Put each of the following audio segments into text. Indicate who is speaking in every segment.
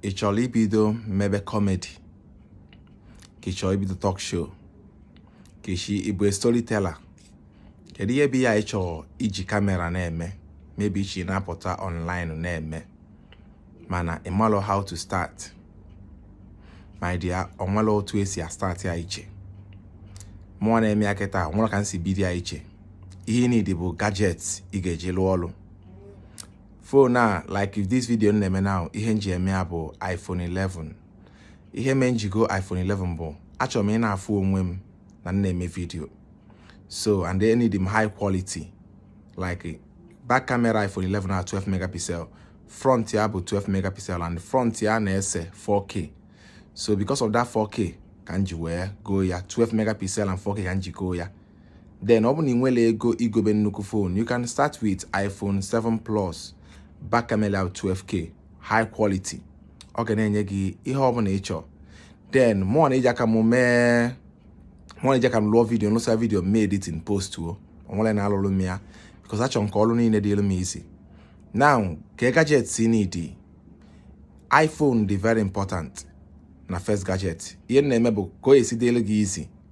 Speaker 1: ị chọrọ ibido mebe comedy ka ị chọrọ ibido talk show ka isi ịbụ storyteller kedu ihe bụ ya ị chọrọ iji kamera na-eme maybe ị chọ ịna-apụta online na-eme mana ị marọ how to start my dear onwere otu esi astart ya iche mụwa na-eme ya kịta o nwere ka m si bido ya iche ihe ị need bụ gadget ị ga-eji lụọ ọrụ phone like this video m na-eme now ihe m ji eme ya bụ iPhone 11 ihe mee m ji go iPhone 11 bụ achọrọ m ịna-afụ onwe m na m na-eme video so and e need m high quality like back camera iPhone 11 na 12 megapixel front ya bụ 12 megapixel and front ya na-ese 4K so because of that 4K ka m ji wee goo ya 12 megapixel and 4K ka m ji goo ya then ọ bụ na ị nwerọ ego igobe nnukwu phone you can start with iPhone 7 Plus back camera 12k high quality ọ ga na-enye gị ihe ọ bụla ị chọọ then mụwa na-eji aka m mee mụwa na-eji aka m lụọ video lụsa video mee editing postụọ o nwerọ onye na-alụrụ m ya because achọrọ m ka ọrụ niile dịrị m easy now ka gadgets ị need iPhone dị very important na first gadget ihe m na-eme bụ ka o si dịrị gị easy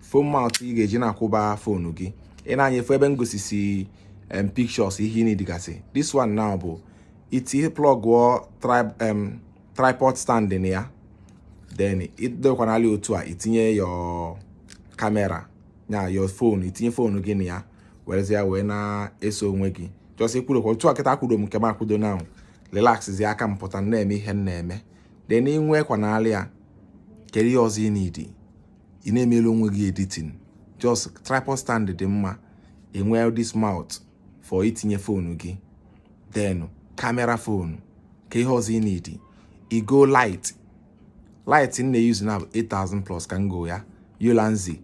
Speaker 1: phone mount ị ga-eji na-akwụba fonu gị ị na-anya ị fụ ebe m gosisi em pictures ihe ị needgasị this one now bụ ị ti plugụọ tripod stand na ya then ịdekwanali otu a itinye your camera ya your phone itinye fonu gị na ya werezie wee na-ese onwe gị just kwụrụkwa otu a kịta akwudo m nke m akwudo arelaxzi aka m pụta na-eme ihe m na-eme then inwekwanali ya kedu ihe ọzọ ị need ị na-emere onwe gị editing just tripod stand dị mma inwe this mount for itinye fonu gị then kamera fonu ka ihe ọzọ ị need ịgo light light m na-euse now bụ 8000 plus ka m go ya Ulanzi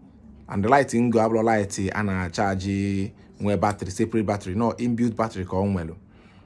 Speaker 1: and the light m go abụrọ light a na-achaji nwee battery separate battery no inbuilt battery ka o nwere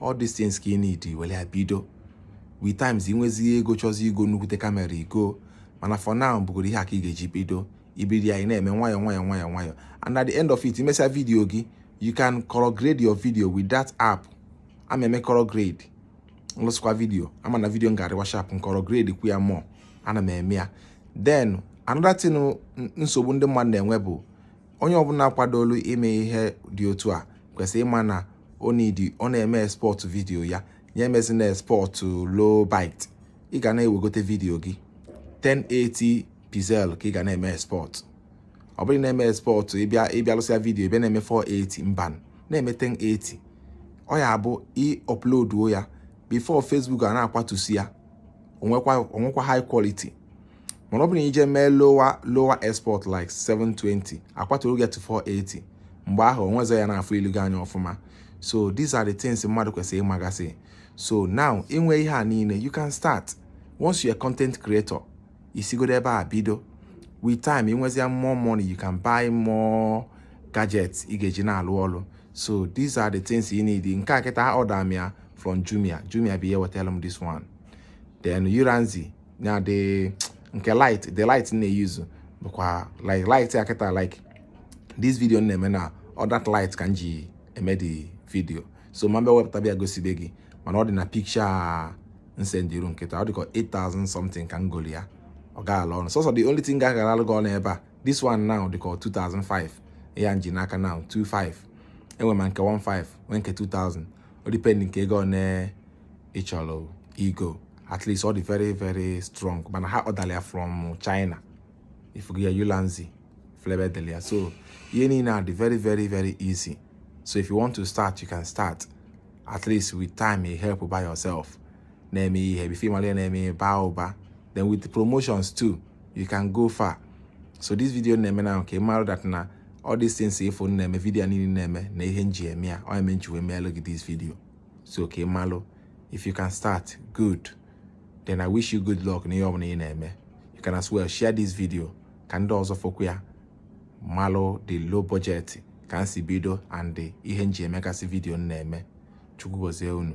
Speaker 1: all these things ka ị need were ya bido with time ị nwezie ego chọzi igo nnukwute kamera ị go mana for now bụgoro ihe a ka ị ga-eji bido ibido ya ị na-eme nwayọ nwayọ nwayọ nwayọ and at the end of it imesịa video gị you can color grade your video with that app ana m eme color grade m lụsịkwa video ama na video m ga-adịkwa sharp m color gradekwu ya mụ ana m eme ya then another thing nsogbu ndị mmadụ na-enwe bụ onye ọbụla kwadolu ime ihe dị otu a kwesịrị ịma na ọ needi ọ na-eme export vidiyo ya ya emezina export low bit ị ga na-ewegote vidiyo gị 1080 pixel ka ị ga na-eme export ọ bụrụ na-eme export ị bịa ị bịa lụsịa vidiyo bịa na-eme 480 mba na-eme 1080 ọ ya abụ ị uploaduo ya before Facebook ana-akwatusi ya o nwekwa high quality mana ọ bụrụ na i je mee lower lower export like 720 akwaturu get 480 mgbe ahụ o nwezọ onye na-afụ ilu gị anya ọfụma so these are the things mmadụ kwesịrị ịmagasị so now i nwe ihe a niile you can start once you're a content creator i sigodu ebe a bido with time i nwezia more money you can buy more gadgets ị ga-eji na-alụ ọlụ so these are the things you need nke a kịta order m ya from Jumia Jumia bụ ihe wetara m this one then Ulanzi ya dị nke light the light na-eyuzu bụkwa like light ya kịta like this video na-eme na ọ that light ka m ji eme the video so ma mbe wepụta bịa gosibe gị mana ọ dị na picture m sendiru kịta ọ dịka 8000 something ka m golu ya ọ gaala ọnụ sọsọ the only thing ga-agalalụ gị ọnụ ebe a this one now dịka 2005 ya m ji n'aka now 25 e nwe ma nke 15 nwee nke 2000 ọ dependi nke ego one ị chọrọ igo at least ọ dị very very strong mana a ọdara ya from China ị fugo ya Ulanzi fụ ebe e delu ya so ihe niile a dị very very very easy so if you want to start you can start at least with time you help by yourself na-eme ihe before ị mara na-eme ị baa ụba then with the promotions too you can go far so this video na-eme na nke mara that na all these things ị fụ na-eme video niile na-eme na ihe m ji eme ya ọ eme m ji wee meelụ gị this video so ka ị malụ if you can start good then i wish you good luck n'ihe ọbụla ị na-eme you can as well share this video ka ndị ọzọ fụkwu ya malụ the low budget ka m si bido and ihe m ji emegasị vidio m na-eme chukwu gozie unu